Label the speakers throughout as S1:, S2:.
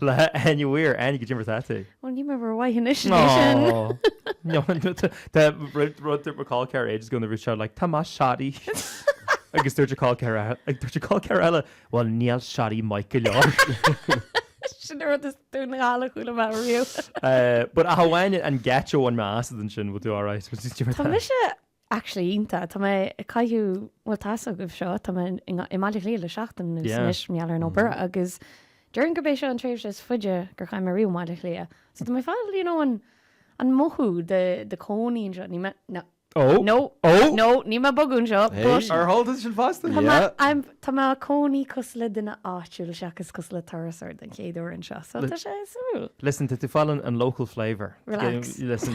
S1: Le hAine Weir, Aine go dtí Ratatí. Ó níor
S2: mhaith
S1: anois é sin. Tá rud ag Michael Carr ages ago nuair a bhí sé like, tá maith Shadi. Agus dúirt Michael Carr ag dúirt Michael Carr eile, bhuel níl Shadi maith go
S2: leor. Sin an rud is dúinn a dháileadh chuile mheán riamh. But
S1: amháin an gcéad uair an meas ansin, we'll do alright. Tá mise
S2: Actually iontach. Tá mé ag caitheamh, bhuel tá a fhios agaibh seo, tá mé i mBaile Átha Cliath le seachtain anuas Yeah. anois, mar gheall ar an obair agus déarfainn gurb é seo an tréimhse is faide gur chaith mé riamh i mBaile Átha Cliath. So tá mé ag fáil, you know, an an mothú de de cónaí anseo. Níl mé, no, Oh! no, Oh! no, níl mé ag bogadh anseo, Hey! but Ar shíl tú
S1: sin fosta? Tá mé, Yeah. I'm, tá
S2: mé i mo chónaí cosúil le duine áitiúil seachas cosúil le turasóir den chéad uair anseo, so Li- tá sé suimiúil. Listen, tá tú ag fáil an
S1: an local flavour. Relax. Listen,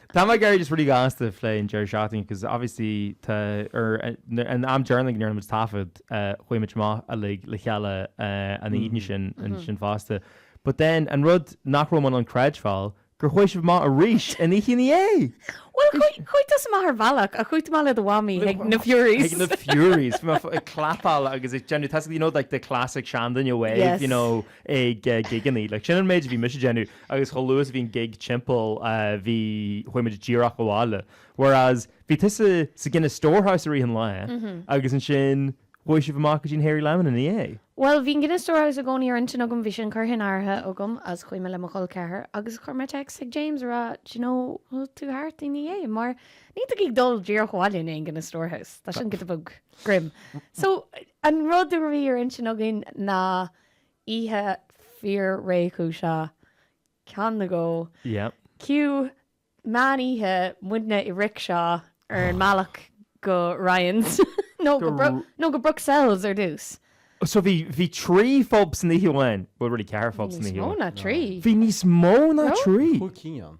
S1: Tá muid ag iarraidh just really gasta a phlé an deireadh seachtaine agus obviously tá an t-am deireanach go ndearna muid taifead chuaigh muid amach uilig le chéile an Déardaoin ansin fosta but then an rud nach raibh mé in ann creidbheáil gur chuaigh sibh amach arís an oíche ina dhiaidh!
S2: Bhuel chuaigh chuaigh tú amach ar bhealach ach chuaigh tú amach le do mhamaí chuig na Furies. Chuig na Furies! Bhí
S1: mé ag clapáil agus ag déanamh tá a fhios agat you know like the classic seanduine wave you know ag gigeanna like sin an méid a bhí mise ag déanamh agus chomh luath is a bhí an gig timpeall, chuaigh muid díreach abhaile. Whereas bhí tusa sa Guinness Storehouse i rith an lae agus ansin chuaigh sibh amach go dtí an Hairy Lemon ina dhiaidh. Bhuel, bhí an Guinness Storehouse
S2: i gcónaí ar intinn agam, bhí sin curtha in áirithe agam agus chuaigh mé le mo chol ceathar agus chuir mé text chuig James ag rá do you know, bhfuil tú thart ina dhiaidh mar níl tú ag dul díreach abhaile i ndiaidh an Guinness Storehouse, tá sin giota beag grim. So an rud a bhí ar intinn againn ná oíche fíor-réchúiseach, ceann nó dhó. Yeah. Cue, meán oíche, muidne i rickshaw ar an mbealach go Ryan's, nó go Bro, nó go Bruxelles ar dtús. So bhí,
S1: bhí trí phub san oíche amháin, bhuel really ceithre phub san oíche amháin. Níos mó ná trí. Bhí níos
S2: mó
S1: ná trí. Cúig cinn ann.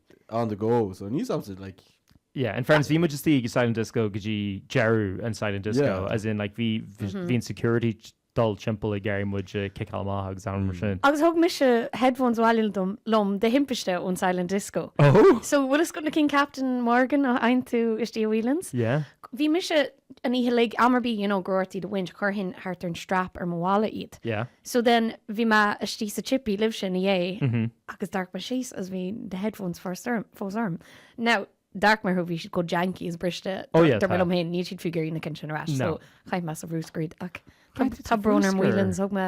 S3: on the go so I knew something like. Yeah, in fairness
S1: bhí muid istigh ag Silent Disco go dtí deireadh an Silent Disco as in like bhí bhí an security ag dul timpeall ag iarraidh muid a chiceáil amach agus araon mar sin. Agus thug
S2: mise headphones abhaile liom de thimpiste ón Silent Disco. Oh! So bhfuil a fhios agat
S1: na
S2: cinn Captain Morgan a fhaigheann tú istigh i Whelan's? Yeah. Bhí mise an oíche uilig, am ar bith, you know, go raibh tú á mbaint, chuirfinn thart ar an strap ar mo mhála iad. Yeah. So then,
S1: bhí mé
S2: istigh sa chippy libhse ina dhiaidh agus d'amharc mé síos agus bhí na headphones fós orm. Now, d'amharc mé orthu, bhí siad chomh janky agus briste. Oh, yeah, Dar tá. liom féin,
S1: níl siad fiú ag
S2: iarraidh
S1: na
S2: cinn sin ar ais. No. So, chaith mé sa
S1: bhruscar
S2: iad, ach tá- Chaith tú sa tá brón
S1: orm bhruscar? Whelan's,
S2: thug mé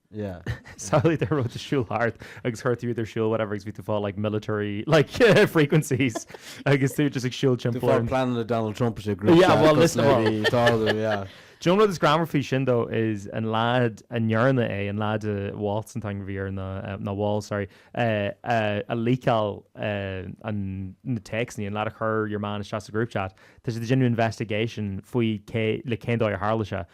S3: Samhlaigh an
S1: raidió ag siúl thart agus chuir tú iad ar siúl whatever agus bhí tú fá like military like frequencies agus tú just ag siúl timpeall orm. Tú ag pleanáil le Donald Trump
S3: sa group chat yeah well listen well do
S1: you know
S3: an rud is greannmhaire faoi
S1: sin though is an lad a ndearna é an lad Waltz an t-ainm a bhí air ná ná Walls sorry a leakáil an na téacsanna an lad a chuir your man isteach sa group chat tá siad ag déanamh investigation faoi cé leis cén dóigh a tharla sé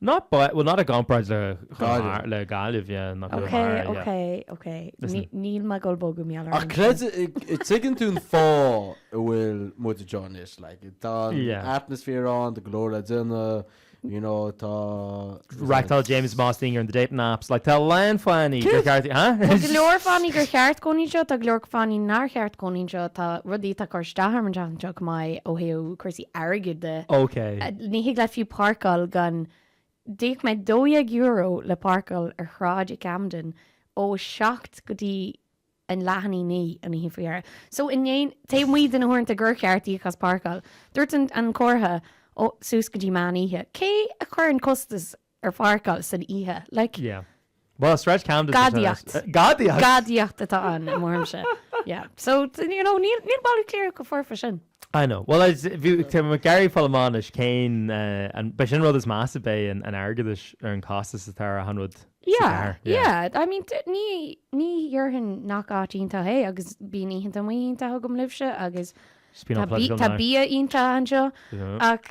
S3: Not but, well not
S1: i gcomparáid le Gaillimh. le
S3: Gaillimh, yeah, not
S1: Ok, Conamara, yeah. ok,
S2: ok. Listen. Ní- níl Maigh Eo bogadh mé aláraim Ach sin. creideann,
S3: tuigeann tú an fáth a bhfuil muid anseo anois, like, tá an Yeah. atmosphere ann, tá go leor le déanamh, you know, tá,
S1: Reachtáil James Mostyn ar an The Dating Apps, like, tá a lán fanny gur cheart, ha? Tá go leor fanny
S2: gur cheart cónaí anseo, tá go leor fanny nár cheart cónaí anseo, tá rudaí atá curtha isteach orm an tseachtain seo, go maith, ó thaobh cúrsaí airgid de. OK. Ní
S1: thig leat
S2: fiú páirceáil gan-. D'íoc mé €12 le páirceáil ar shráid i gCamden ó 7 go dtí an leath i ndiaidh 9 an oíche faoi dheireadh. So in éineacht, taobh amuigh de na huaireanta gur cheart íoc as páirceáil, dúirt an comhartha, oh, suas go dtí meán oíche. Cé a chuireann costas ar pháirceáil san oíche. Like. Yeah.
S1: Well, Sráid Camden does the tennis. Gadaíocht.
S2: Gadaíocht! Gadaíocht atá ann, i mo bharúilse. Yeah. So, you know, níl, níl Baile Átha Cliath chomh foirfe sin. I know. Well, is,
S1: bhí, tá muid ag iarraidh foghlaim anois cén, eh, an, b'é sin an rud is measa, b'é an, an airgead is ar an costas atá ar achan rud sa Yeah, gcarr.
S2: Yeah. yeah. I mean, t- ní, ní déarfainn nach áit iontach é agus bíonn oícheanta amuigh iontach agam libhse agus Just being tá, all bí- political tá now. bia iontach anseo Yeah. ach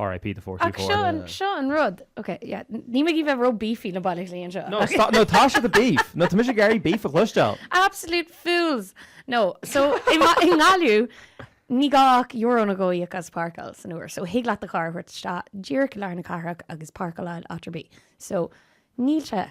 S1: Ach seo an, seo an
S2: rud, ok, yeah, níl mé ag iarraidh a bheith ró beefy le Baile Átha Cliath anseo. No, stop, no, tá sé the
S1: beef, no, tá mise ag iarraidh beef a chloisteáil. Absolute fools!
S2: No, so, i nGaillimh, ní gá ach euro nó dhó a íoc as páirceáil san uair, so thig leat do charr a thabhairt isteach díreach i lár na cathrach agus páirceáil áit ar bith. So, níl sé.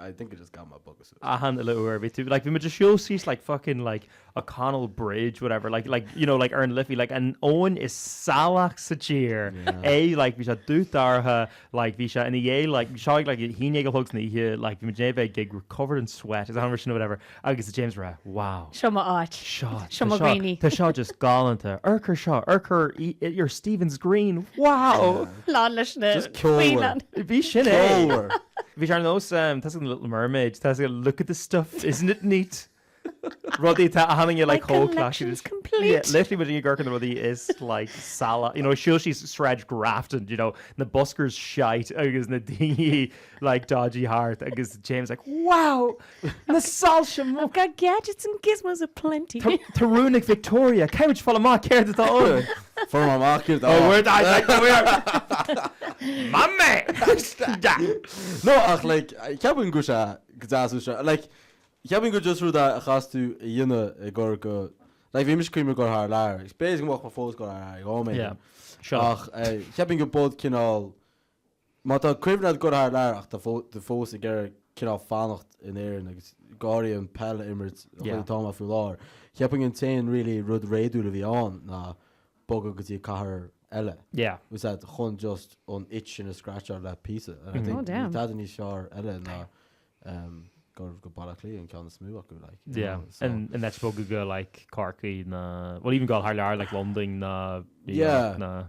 S3: I think I just got my bogus suit. Achan uile uair a
S1: bhí tú, like, bhí muid ag siúl síos, like, fucking, like, O'Connell Bridge, whatever, like, like, you know, like, ar an Liffey, like, an abhainn is salaí sa tír, like, bhí sé dubh dorcha, like, bhí sé ina dhiaidh, like, seáigh, like, a haon déag a chlog san oíche, like, bhí muid i ndiaidh gig, we're covered in sweat, is a leithéid sin nó whatever. Agus James ag rá, wow. Seo mo áit.
S2: Seo, Seo mo dhaoine. tá seo just galánta.
S1: Amharc air seo, amharc ar Stephen's Green, wow. Lán leis na Just
S2: ceolmhar. faoileáin.
S3: Bhí sin é. Ceolmhar.
S1: Bhí sé ar nós, ehm, tá an Little Mermaid, tá sé, look at the stuff, isn't it neat? Wouldn't you think my like collection's
S2: complete. Yeah, literally muid ag amharc ar
S1: na rudaí is like salaí, you know, siúl síos Sráid Grafton, you know, na buskers shite agus na daoine like dodgy thart agus James like, wow! Na soilse mór! I've got
S2: gadgets and gizmos a plenty! Tá rún
S1: ag Victoria, caithfidh muid fáil amach céard atá ann? Fuair mé amach céard
S3: atá ann. Oh, where do I like to
S1: wear? Mummy! No, ach
S3: like, cheapfainn go bhfuil sé go deas uaidh seo. Like, cheapfainn go just rud a chaitheas tú a dhéanamh i gcur go, like, bhí mise ag cuimhneamh ar ghoil thar lear, like, b'fhéidir go mbeidh mé fós ag goil thar lear, like, oh my, Sure. ach
S1: eh, cheapfainn
S3: go but cineál Má tá cuimhne a'd goil thar lear ach tá tú fós ag iarraidh cineál fanacht in Éirinn agus go h-áirithe an peil a imirt an chaoi atá mé faoi láthair. Cheapfainn an t-aon really rud réadúil a bhí ann ná bogadh go dtí cathair eile. Yeah. Is ea,
S1: chun
S3: just an itch sin a scratcháil le píosa. And I think níl tada níos fearr eile ná ehm goil go Baile Átha Cliath an ceann is mó acu like. Yeah. So, and and
S1: that's bogadh go like Corcaigh nó well even goil thar lear like Londain nó Yeah. Nó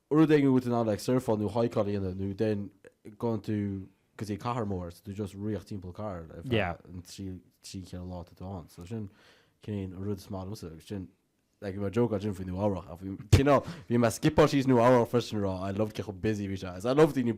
S3: rud éigin a bhfuil tú in ann like surfáil nó haikáil a dhéanamh nó then going to go dtí cathair mór is tú just ag rith timpeall cathair ar feadh Yeah. an trí
S1: trí
S3: ceithre lá atá tú ann so sin cén rud is maith liomsa agus sin like mar joke sin faoi Nua Eabhrach a bhí you know bhí mé ag skipáil síos Nua Eabhrach freisin ag rá I love cé chomh busy bhí sé I love daoine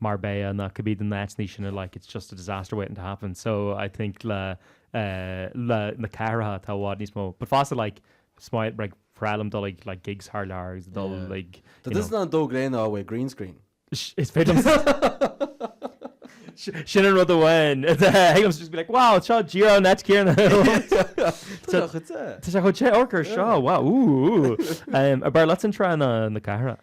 S1: Marbella ná could be the Nets ní sin a like it's just a disaster waiting to happen so I think le le na cathracha tá i bhfad níos mó but fosta like is maith like bhreá liom dul ag like gigs thar lear agus dul Yeah. ag you know. That doesn't an dó
S3: gréine á bhfuil green screen. Is féidir
S1: liom sin an rud amháin is féidir liom just be like wow seo díreach an áit chéanna Tá sé chute. Tá sé chute orca seo wow ooh ooh. Arbh fhearr leat an trá ná na cathracha?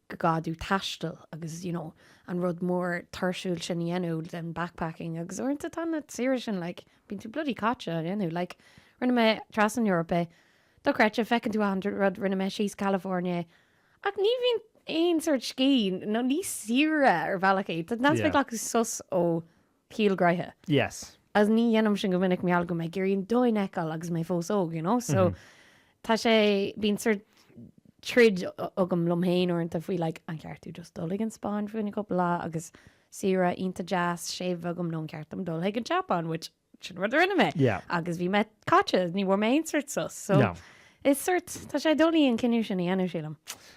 S2: dul ag taisteal agus you know an rud mór tuirsiúil sin a dhéanamh den backpacking agus uaireanta tá na saoire sin like bíonn tú bloody caite á dhéanamh like rinne mé trasna na hEorpa dochreidte feiceann tú a hundred rud rinne mé síos California ach ní bhíonn aon sort scíth nó ní saoire ar bhealach é tá an aspect like sos ó Shaol gnaitheach. Yes. Is
S1: ní dhéanaim
S2: sin go minic mar gheall go bhfuil mé ag iarraidh an domhan a fheiceáil agus mé fós óg, you know, so tá sé, bíonn sort troid agam liom féin uaireanta faoi like an ceart domh just dul ag an Spáinn fá choinne cúpla lá agus saoire iontach deas, séimh agam nó an ceart dom dul ag an tSeapáin, which sin rud a rinne mé Yeah. agus bhí mé
S1: caite
S2: is ní bhfuair mé aon sort sos, so No. is sort, tá sé doiligh an cinneadh sin a dhéanamh sílim.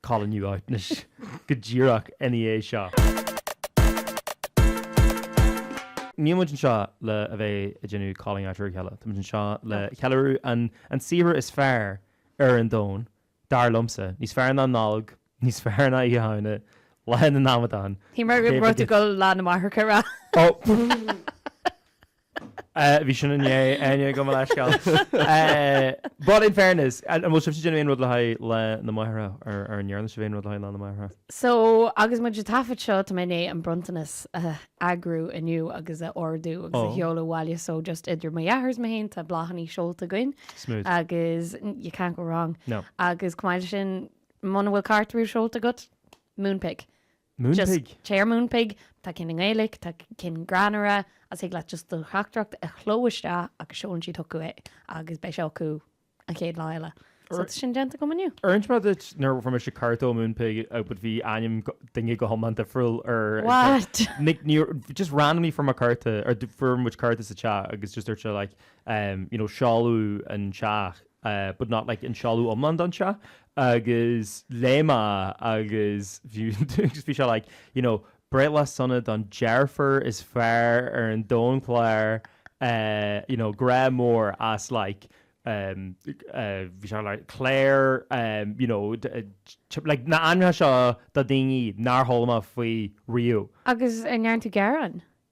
S1: Calling you out anois go díreach ina dhiaidh seo. Níl muid anseo le a bheith ag déanamh calling out ar a chéile. Tá muid anseo le ceiliúradh an an saothar is fearr ar an domhan, dar liomsa. Níos fearr ná Nollaig, níos fearr ná Oíche Shamhna, Lá na nAmadán, Shíl mé go raibh tú
S2: ag goil Lá na Máithreacha a rá. Ó!
S1: Bhí sin inné, inniu, gabh mo leithscéal. But in fairness, an bhfuil sibhse ag déanamh aon rud le haghaidh Lá na Máithreacha? Ar an ndearna sibh aon rud le haghaidh Lá na Máithreacha? So, agus
S2: muid ag taifead seo, tá mé i ndiaidh an bronntanas a eagrú inniu agus a ordú agus a Oh. sheoladh abhaile, so just idir mo dheartháir is mé féin tá bláthannaí seolta againn Smooth.
S1: agus you
S2: can't go wrong. No. Agus chomh maith
S1: leis sin,
S2: muna bhfuil cárta ar bith seolta agat, Moonpig.
S1: Moonpig. Just téigh ar
S2: Moonpig, tá cinn i nGaeilic, tá cinn greannmhara, agus thig leat just do theachtaireacht a chló isteach agus seolann siad chucu é agus beidh sé acu an chéad lá eile. So tá sin déanta agam inniu. Ar inis mé duit nuair a
S1: fuair mise cárta ó Moonpig but bhí ainm go- duine go hiomlán difriúil air What?
S2: Like
S1: níor just randomly fuair mé cárta ar d- fuair muid cárta sa teach agus just dúirt sé like um, you know, seoladh an teach but not like an seoladh iomlán don teach agus léigh mé é agus bhí agus bhí sé like you know breithlá sona don deirfiúr is fearr ar an domhan Claire eh you know grá mór as like em eh bhí sé like Claire em you know de eh like na ainmneacha seo do daoine nár chuala mé faoi riamh. Agus an ndearna tú
S2: gearán?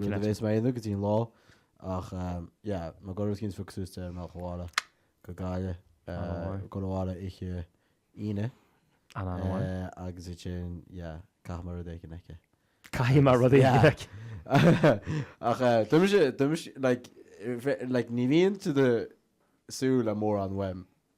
S3: rud a bhéas mé aonair go dtí an lá ach yeah mar go raibh Kingsford suas mé ag dul abhaile go Gaillimh dul abhaile oíche Aoine agus é sin yeah caithfidh mé rud a cheannach. Caithfidh mé
S1: rud a cheannach.
S3: Ach domsa domsa like like ní bhíonn tú ag súil le mórán uaim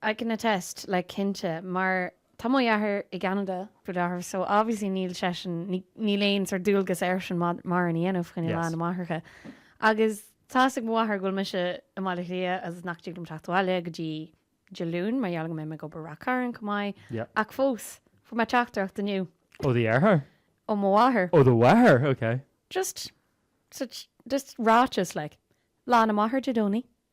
S3: I
S2: can attest, like cinnte, mar tá mo dheartháir i gCeanada, brother, so obviously níl seisean, níl aon sórt dualgas airsean mórán a dhéanamh fá choinne Lá na Máithreacha agus tá 'fhios ag mo mháthair go bhfuil mise i mBaile Átha Cliath agus nach dtig liom teacht abhaile go dtí Dé Luain mar gheall go mbeidh mé ag obair i Ráth Chairn
S1: chomh
S2: maith ach fós fuair mé
S1: teachtaireacht inniu
S2: Ó
S1: do
S2: dheartháir? Ó mo mháthair. Ó do mháthair, ok.
S1: Just
S2: such, just ráiteas like Lá na Máthar Dé Domhnaigh,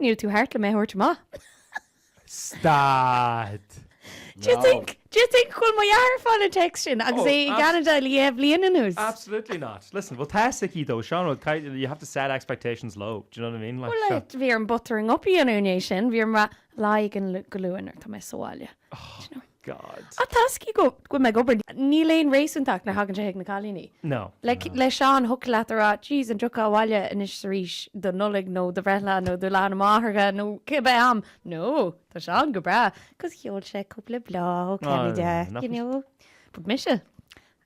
S2: Níl tú thart le mé a thabhairt amach.
S1: Stad! Do you think,
S2: do you think go bhfuil mo dheartháir ag fáil an text sin agus é i Oh, gCeanada le dhá bhliain anuas? Absolutely
S1: not. Listen, bhuel tá 'fhios aici though, Seán rud caighdeán, you have to set expectations low, do you know what I mean, like, Bhuel, seo. eh, bhí orm buttering
S2: up a dhéanamh i ndiaidh sin, bhí orm a rá, Lá éigin go luath nuair atá mé sa bhaile, do you know.
S1: God. Ach tá 'fhios
S2: aici go bhfuil mé ag obair, níl aon réasúntacht nuair a thagann sé chuig na cailíní. No. Like le
S1: Seán,
S2: thiocfadh leat a rá, jeez, an dtiocfá abhaile anois is arís do Nollaig nó do bhreithlá nó do Lá na Máithreacha nó cibé am? No, tá Seán go breá, 'cause sheol sé cúpla bláth ó Cheanada, you know. But mise?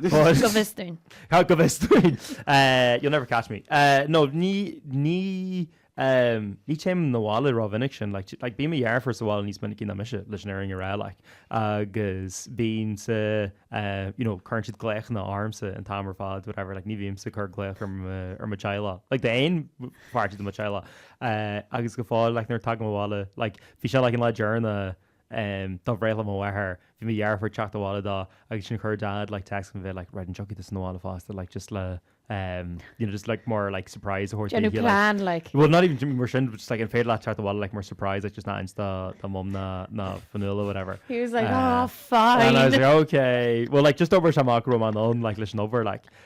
S1: Go
S2: bhfios dúinn. Go
S1: bhfios dúinn. You'll never catch me. No, ní, ní, ní théim na bhaile rómhinic sin. Like, like bíonn mo dheirfiúr sa bhaile níos minicí ná mise leis an fhírinne a rá, like, agus bíonn siad, you know, cuireann siad glaochanna ormsa an t-am ar fad, whatever, like, ní bhímse ag cur glaoch ar mo, ar mo theaghlach, like, d'aon pháirt de mo theaghlach. Agus go fóill, like, nuair a thagaim abhaile, like, bhí sé, like, an lá deireanach, em dá bhréathlaim mo mháthair bhí mo dheirfiúr teacht abhaile dá agus sin chuir dad like text me bheith like red an dtiocfaidh tusa na bhaile fosta like just le em you know just like more like surprise a thabhairt déanamh daoibh plan like
S2: well not even mar sin
S1: just like an féad leat teacht abhaile like more surprise like just not insta tá mom na na fanúla whatever he was like uh, oh
S2: fine and I was like okay
S1: well like just over samach rom an on like leis an over like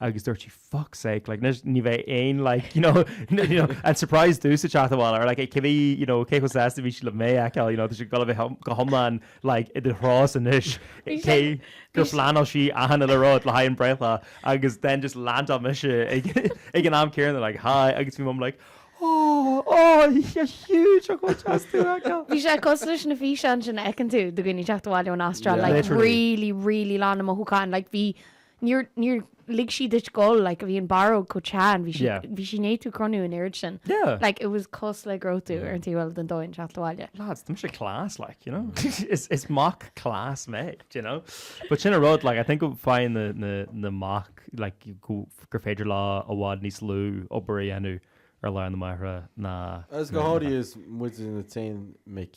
S1: agus dúirt sí fuck sake like anois ní bheidh aon like you know you know an surprise tusa ag teacht abhaile or like ag cuimhniú you know cé chomh sásta a bhí sí le mé a fheiceáil you know tá sí ag dul a bheith go hiomlán like idir thrá is anois Bhí cé sé- gur bhí sé- phleanáil sí achan uile rud le haghaidh an breithlá agus then just landáil mise ag ag an am céanna like hi agus bhí mum like oh oh you're huge oh go deas tú a
S2: fheiceáil. Bhí sé cosúil leis na físeáin sin a fheiceann tú de dhaoine ag teacht abhaile ón Astráil Yeah. like Literally. really really lán de mhothúcháin like bhí Níor níor lig sí duit gabháil like a bhí an barróg chomh teann bhí sí Yeah. bhí sí i ndiaidh tú a chronú an oiread sin Yeah. like it was cosúil le go raibh tú ar an taobh eile den domhan ag teacht abhaile. lads, tá mise class,
S1: like, you know? is is mac class mé, do you know? But sin an rud, like, I think go bhfaigheann na na na mac, like, go gur féidir leo i bhfad níos lú obair a dhéanamh ar Lá na Máithreacha ná Agus go ná na háirithe mhaic. is
S3: muide na t-aon mic.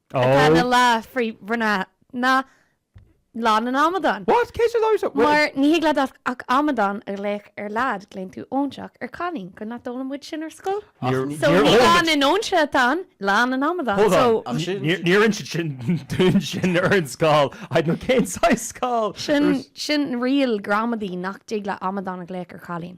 S2: atá ina lá frith-mhná ná Lá na nAmadán. What? Cé siúd amhrasach?
S1: Bhuel. Mar ní thig leat
S2: ach amadán a ghlaoch ar leaid, glaonn tú óinseach ar cailín, go nach d'fhoghlaim muid sin ar scoil? Níor fhoghlaim. So ní Lá na nÓinseach atá ann, Lá na nAmadán. Hold on. So. Níor inis
S1: siad dúinn sin ar an scoil. I don't know cén saghas scoil. Sin, sin
S2: riail gramadaí nach dtig leat amadán a ghlaoch ar chailín.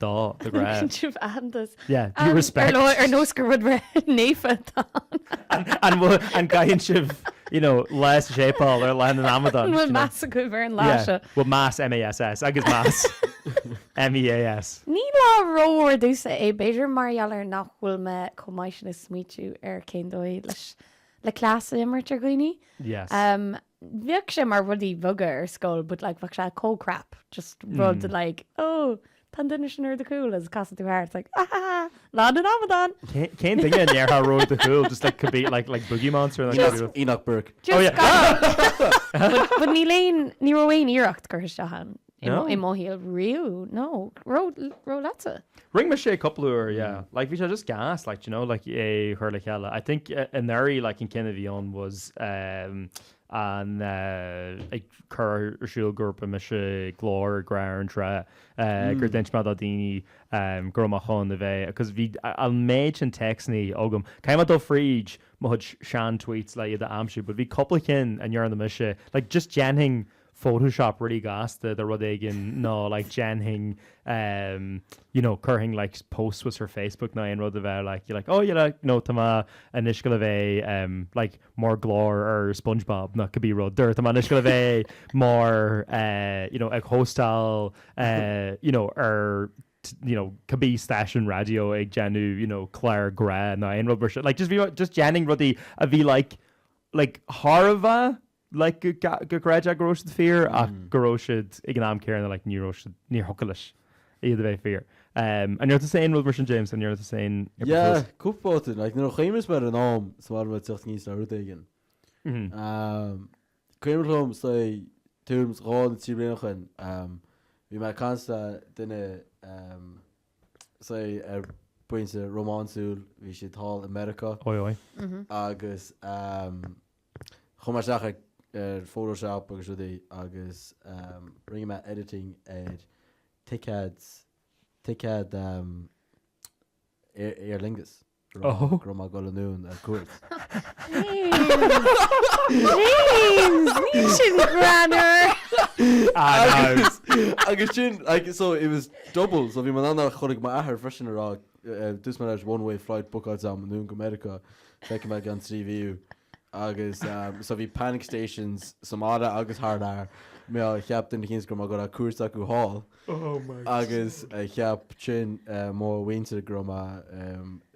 S1: Dó, an dtugann sibh
S2: aitheantas. Yeah, due
S1: respect. Ar, ar nós gur
S2: rud naofa atá ann. An bhfuil,
S1: an gcaitheann sibh, you know, lá sa séipéal ar lá na n-amadán? An bhfuil meas agaibh ar an
S2: lá seo? Yeah, bhfuil meas,
S1: M-A-S-S, agus meas, M-E-A-S. Ní
S2: lá rómhór domhsa é, b'fhéidir mar gheall ar nach bhfuil mé chomh maith sin ag smaoitiú ar cén dóigh leis, le cleas a imirt ar dhaoine. Yes. bheadh sé mar rudaí bheaga ar scoil but like bheadh sé chomh crap just rud like oh tá an duine sin ar do chúl agus casfaidh tú thart like ahahaha lá na n-amadán! Cén duine
S1: a ndéarfá raibh ar do chúl just like could be like like Boogie Monster nó Just- Enoch Burke. just gabh
S2: but but níl aon ní raibh aon iarracht curtha isteach ann No. I mo
S1: shaol
S2: riamh, no. Raibh, raibh leatsa. Rinne mise
S1: cúpla uair, yeah. Mm. Like bhí sé just gas, like, do you know, like é chuir le chéile. I think anuraidh, like an ceann a bhí ann was ehm, an eh, ag cur ar siúl go raibh mise ag gabháil ar Grá ar an Trá, eh, gur Mm. d'inis mé do dhaoine ehm, go raibh mé chun a bheith, because bhí a- an méid sin téacsanna agam, caithfidh mé dul fríd mo chuid sean-tweets le iad a aimsiú, but bhí cúpla cinn a ndearna mise, like just déanfainn Photoshop really gasta de rud éigin nó like dhéanfainn um you know chuirfinn like posts suas ar Facebook nó aon rud a bheadh like like oh yeah like nó tá mé anois ag dul a bheith um like mar glór ar Spongebob nó cibé rud é tá mé anois ag dul a bheith mar uh you know ag hóstáil uh you know ar you know cibé stáisiún raidió ag déanamh you know clár grá nó aon rud mar sin like just bhí just dhéanfainn rudaí a bhí like like thar a bheith like go gcreidfeá go raibh siad fíor ach go raibh siad ag an am céanna like ní raibh siad, níor thiocfadh leis iad a bheith fíor. An ndearna tusa aon rud mar sin James? An ndearna tusa aon Yeah, cúpla babhta.
S3: Like nuair a chuimhníos mé air in am sa bhaile bheith teacht aníos le rud éigin, cuimhin liom say tuairim is dhá nó trí bliana ó shoin, bhí mé ag caint le duine say ar pointe rómánsúil, bhí siad thall i Meiriceá, Oi, oi.
S1: agus
S3: Chuaigh mé isteach ar Photoshop agus rudaí agus rinne mé editing ar ticéad, ticéad Aer Lingus go raibh mé ag dul anonn ar cuairt.
S2: James! Níl sin
S3: greannmhar! Agus sin, like, so it was double, so bhí mé in ann é a chur ag m'athair freisin a rá, dúirt mé leis one way flight, bookáilte agam anonn go Meiriceá. Feicfidh mé i gceann trí mhí thú. Agus so bhí panic stations sa mbaile agus thar lear. Mar cheap duine eicínt go raibh mé ag goil ar cuairt acu thall. Agus cheap ansin mo mhuintir go raibh mé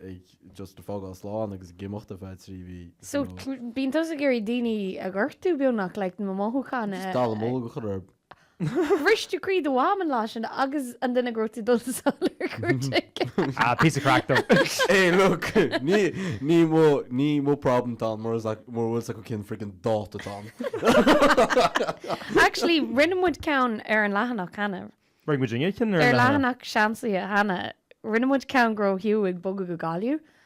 S3: ag just ag fágáil slán agus ag imeacht ar feadh trí mhí. So bíonn
S2: tusa ag iarraidh daoine a ghortú beagnach, like na mothúcháin a. Just dallamullóg a chur orthu.
S3: Bhris
S2: tú croí do mham an lá sin agus an duine go raibh tú ag dul sall ar cuairt aige. Ah,
S1: píosa craic though. Hey, look,
S3: ní, ní mo, ní mo problem atá ann mura is ac, mura bhfuil 's acu cén friggin' dáta atá
S2: ann. Actually, rinne muid ceann ar an leathanach cheana. Rinne muidinne ceann ar an
S1: leathanach? Ar leathanach
S2: Seansálaithe cheana, rinne muid ceann go raibh Hugh ag bogadh go Gaillimh.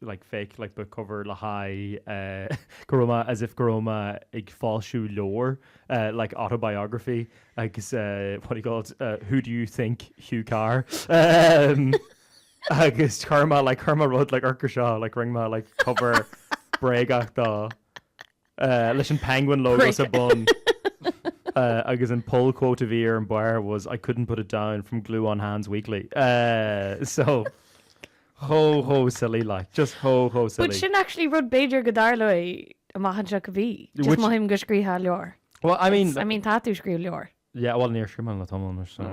S1: like fake like book cover le haghaidh eh go raibh mé as if go raibh mé ag foilsiú leabhair eh like autobiography agus eh what do you call it eh who do you think Hugh Carr ehm agus chuir mé like chuir mé rud like orca seo like rinne mé like cover bréagach dó leis an Penguin logo sa bun agus an pull quote a bhí ar an bharr was I couldn't put it down from glue on hands weekly. So, chomh, chomh silly like. Just chomh, chomh silly. But sin actually
S2: rud b'fhéidir go dtarlóidh amach anseo go bhí. Just mothaím go scríobhfá leabhar. Well, I mean. I mean
S1: tá tú ag scríobh leabhar.
S2: Yeah, bhuel níor
S1: screamhail na Tomlainn mar sin.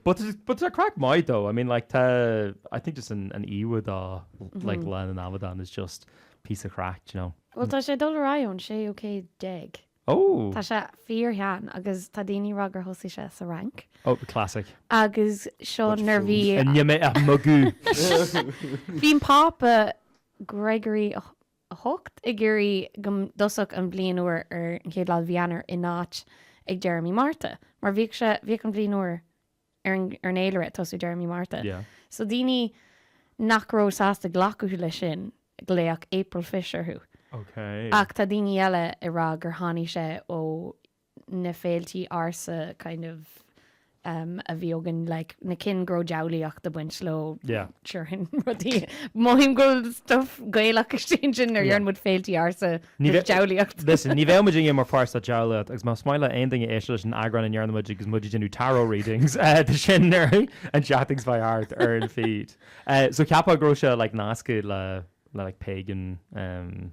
S1: But but tá craic maith though, I mean like tá I think just an an íomha de like lá na n-amadán is just piece of craic, do you know. Bhuel tá sé ag dul ar
S2: aghaidh ón séú céad déag. Oh! Tá
S1: sé
S2: fíor shean agus tá daoine ag rá gur thosaigh sé sa Fhrainc. Oh,
S1: classic. Agus
S2: seo nuair bhí níl mé ag magadh. Bhí an Pápa Gregory 8 ag iarraidh go dtosódh an bhliain úr ar an chéad lá de mhí Eanáir in áit ag deireadh mí Márta, mar bhíodh sé, bhíodh an bhliain úr ar an, ar an fhéilire ag tosú deireadh mí Márta. Yeah. So daoine nach raibh sásta glacadh leis sin, glaodh April Fish orthu. Okay. Ach tá
S1: daoine eile
S2: ag rá gur tháinig sé ó na féiltí ársa kind of um a bhí againn like na cinn go raibh diabhlaíocht ag baint leo Yeah. sure sin
S1: rudaí
S2: mothaím go bhfuil stuff gaelach istigh ansin nuair a Yeah. dhearna muid féiltí ársa Ní bheith- diabhlaíocht Listen, ní bheadh muidne
S1: mar pháirt sa diabhlaíocht agus más maith le aon duine éisteacht leis an eagrán a ndearna muid agus muid ag déanamh tarot readings eh, tá sin uirthi and chatting sby art ar an feed. Eh, so cheapfá go raibh sé like nasctha le le like pagan um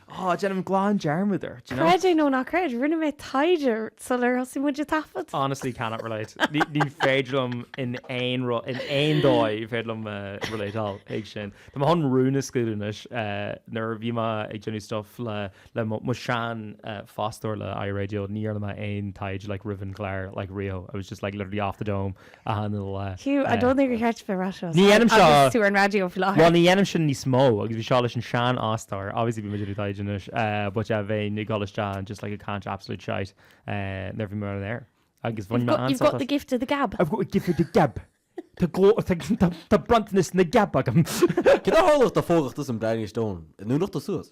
S1: Ah, déanaim glan dearmad air. Creid é nó ná creid,
S2: rinne mé taighde sular thosaigh muid ag taifead. Honestly cannot relate.
S1: Ní féidir liom in aon rud, in aon dóigh féidir liom relateáil ag sin. Tá mé chun rún a scaoileadh anois. Nuair a bhí mé ag déanamh stuff le mo sheanfhostóir le iRadio ní dhearna mé aon taighde like roimh an gclár like riamh. I was just like literally off the dome achan lá. Hugh, I don't think gur
S2: cheart duit a rá seo Ní dhéanaim seo. Agus tú ar
S1: an raidió faoi láthair.
S2: Bhuel, ní dhéanaim sin níos
S1: mó agus bhí seo leis an seanfhostóir. Obviously bhí muid ag úsáid anois, but yeah, bheinn ag dul isteach and just like ag caint absolute shite nuair bhí mé ar an aer. Agus bhain mé an-sásamh. You've got the gift
S2: of the gab. I've got the gift of the
S1: gab. Tá gló- tá, tá, tá bronntanas na gab agam.
S3: Cén fáth a tharlódh do phógadh tusa an Blarney Stone i nDúnachta suas?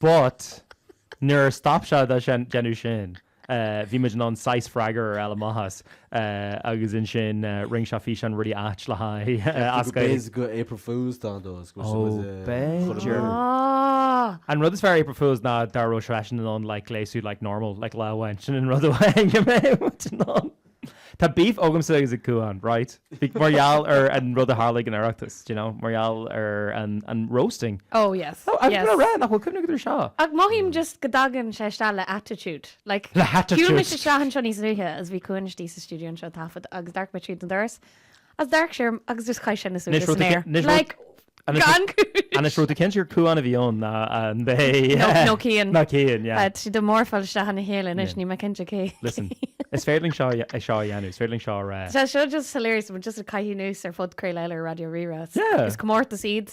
S1: But nuair a stop sé dá déanamh sin, bhí muid in ann saghas freagair ar Alan Mathys agus ansin rinne sé físeán really ait le haghaidh As Gaeilge. B'fhéidir
S3: gur April Fools dá dó.
S1: B'fhéidir. An rud is fearr April Fools ná dá raibh seisean in ann like gléasadh like normal like lá amháin. Sin an rud amháin go mbeidh muid in ann. Tá beef agamsa agus ag Cuán, right? Bhí mar gheall ar an rud a tharla ag an Oireachtas, do you know, mar gheall ar an an roasting. Oh yes, No, I'm yes.
S2: gonna rant, nach bhfuil
S1: cuimhne agat ar seo. Ach mothaím just
S2: go dtagann sé isteach le attitude, like Le attitude. Shiúil mise isteach
S1: anseo níos
S2: luaithe agus bhí Cuán istigh sa stiúideo anseo ag taifead agus d'amharc mé tríd an doras is d'amharc sé orm agus just chaith sé na súile san aer. Like, gan cúis! Anois raibh tú
S1: cinnte gur Cuán a bhí ann ná an mhéid. Nó Cian. Nó
S2: Cian, yeah. Tá siad
S1: ag mórfáil isteach
S2: ina chéile anois, níl mé cinnte cé. Listen, is
S1: féidir linn seo a dhéanamh, is féidir linn seo a. Tá seo just
S2: hilarious, tá muid just ag caitheamh anuas ar phodchraoladh eile ar Raidió Rí-Rá. Yeah. Is comórtas
S1: iad.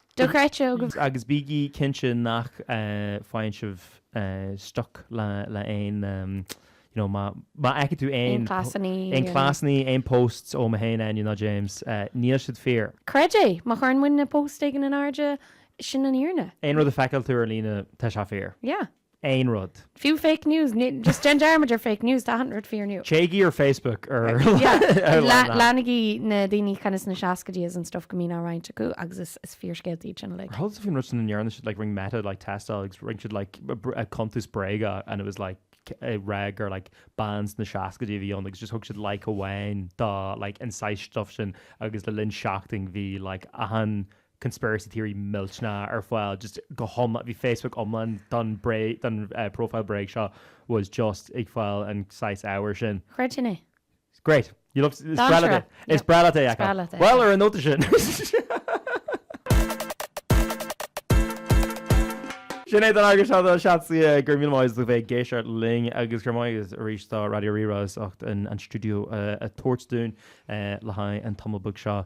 S2: Dochreidte. Agus
S1: bígí cinnte nach bhfaigheann sibh stuck le aon, you know, má fheiceann tú aon cleasannaí, aon posts ó mé fhéin, Áine ná James, níl siad fíor. Creid é, má
S2: chuireann muidne post éigin in airde, sin an fhírinne. Aon rud a feiceáil tú ar
S1: líne, tá sé fíor. Yeah.
S2: aon
S1: rud. Fiú fake news,
S2: ní, just déan dearmad ar fake news, tá achan rud fíor inniu. Téigí ar
S1: Facebook ar ar lean lean. Leanaigí
S2: na daoine kind of sna seascaidí is an stuff go mbíonn á roinnt acu agus is is fíorscéaltaí iad sin uilig. Chuala sibh faoin rud sin a ndearna
S1: siad like rinn Meta like teisteáil agus rinn siad like a br- a cuntas bréige and it was like a rag or like bean sna seascaidí a bhí ann agus just thug siad like amháin dá like an saghas stuff sin agus le linn seachtain bhí like achan conspiracy theory millteanna ar fáil just go hiomlán, bhí Facebook iomlán don profile bréag seo was just ag fáil an saghas ábhair sin. Creidim é.
S2: Great.
S1: You love, is breá leat é. Is breá leat é a fheiceáil. Bhuel, ar an nóta sin, sin é don eagrán seo do Chat Suidhe, go raibh míle maith agat as bheith ag éisteacht linn agus go raibh maith agat arís do Raidió Rí-Rá as ucht an stiúideo a thabhairt dúinn le haghaidh an tamall beag seo.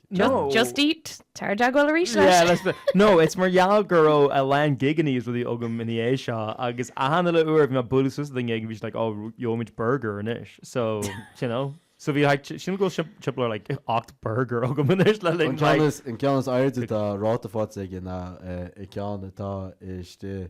S3: No. Just
S2: Eat. Tar i dteagmháil arís leis. Yeah, let's be,
S1: no, it's mar gheall go raibh a lán gigeannaí is rudaí agam ina dhiaidh seo agus achan uile uair bhí mé bualadh suas le gig bhí siad like oh gheobhaimid burger anois so you know so bhí like sílim go bhfuil timpeall ar like ocht burger agam anois le linn like. An ceann
S3: is airde atá ráta faighte aige ná an ceann atá istigh